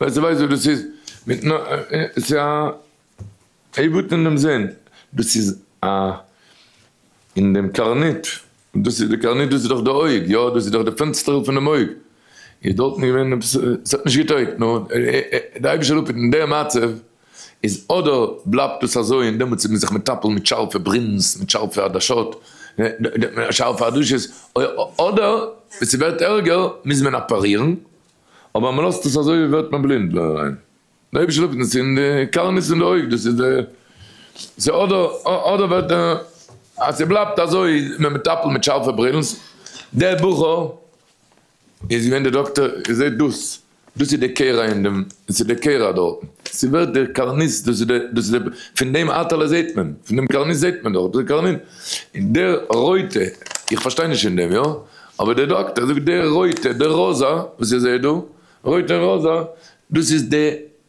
ווייסט ווייסט וואס דאס איז? מיט נ ס'איז א עיוות אין דעם זין, דאס איז א אין דעם קרנית, דאס איז די קרנית דאס איז דאך די אויג יא, דאס איז דאך די פענסטערל פון דעם אויג, איז דארטן געווען עפעס ס'האט נישט געטויגט, נו די אייבישטער האט אפ אין דעם מצב. איז אדער בלייבט עס אזוי און דעמאלטס איז מען זיך מטפל מיט שארפע ברינס, מיט שארפע עדשות, שארפע עדשות, אדער ווען ס'ווערט ערגער מוז מען אפערירן, אבער מען לאזט עס אזוי ווערט מען בלינד דער אריין, דער אייבערשטער זאגט אונז אין די קארניס אין די אויג, דאס איז די, סאו אדער אדער ווערט ער אז ס'בלייבט אזוי איז מען מטפל מיט שארפע ברינס, דער בחור. איז געווען דער דאקטער און זעט דאס, דאס איז די קערה אין דעם, דאס איז די קערה דארטן, ס'איז ווערט דער קארניס, דאס איז דער, דאס איז דער, פון דעם אטעלע זעט מען, פון דעם קארניס זעט מען דארט, דאס איז קארנין, און דער רויטע, איך פארשטיי נישט אין דעם, יא, אבער דער דאקטער זאגט דער רויטע, דער ראזע, וואס איך זע דא, רויט און ראזע, דאס איז די.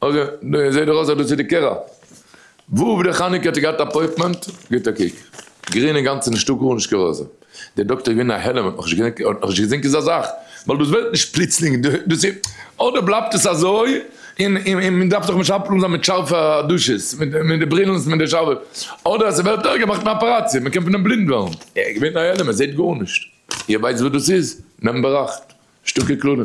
אגב, דא זעהט דאך אויס אז דאס איז די קערה. וואוו די חנוכה האט ער געהאט אפויטמענט? גיט א קוק. גרין אינגאנצן נישטא גארנישט כרזה. דער דאקטער איז געווען א העלם, האט נאך נישט געזעהן כזה זאך. ווייל דאס ווערט נישט פלוצלינג, דאס איז אדער בלייבט עס אזוי, און מען דארף זיך משפטל און זיין מיט שארפע עדשות, מיט די ברילן און די שארפע, אדער אז עס ווערט ערגער מאכט מען אפעראציע, מען קען פון דעם בלינד ווערן. ער איז געווען א העלם, ער זעהט גארנישט. איר ווייסט וואס דאס איז? נעמט באראכט. שטארקע קללה.